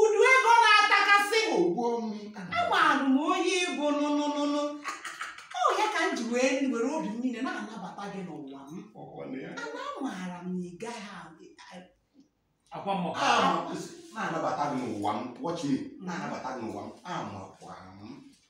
udu ego na-atakasị ogbuo m amarụ m onye ị bụ nụnụnụnụ ọ ya ka m ji wee were obi m niile na-anabata gị n'ụwa m ọkwa na ya ana amaara m na ị gaghị a- akwa mmụọ Ah, na-anabata gị n'ụwa m watch me na-anabata gị n'ụwa m amarụkwara m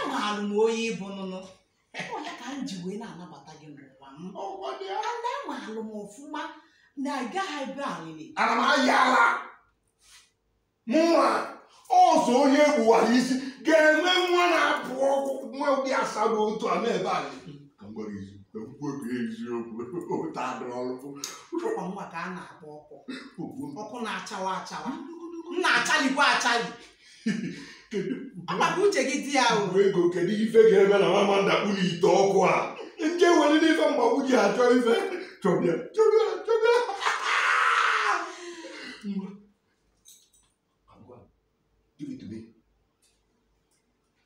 amaara m onye ị bụ nụnụ ọ ya ka m ji wee na-anabata gị n'ụwa m ana amaara m ọfụma na ị gaghị ebe alịlị ana m ayị ala mụnwa ọzọ onye gbuwara isi ga-enwe nwa na-apụ ọgwụ nwa ụdị asago otu a na-ebe anyị ka m gwara izu ka m kwuo ka eziokwu ụta dụrụ ọrụ ọkwa nwa ka a na-akpọ ọkụ ọkụ na-achawa achawa m na-achalikwa achali ngwa ka uche gị dị ya o ego kedu ife ga-eme na m ama ndakpu n'ite ọkụ a ndị ewere n'ife mgbagbu ji achọ ife chọbịa chọbịa chọbịa Ngwa. Ngwa. Give it to me.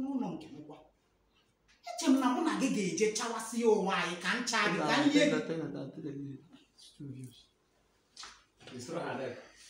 n'ụnọ nke m kwa eche m na mụ na gị ga-eje chawasịa onwe anyị ka m chaa gị ka m nye gị It's not hard.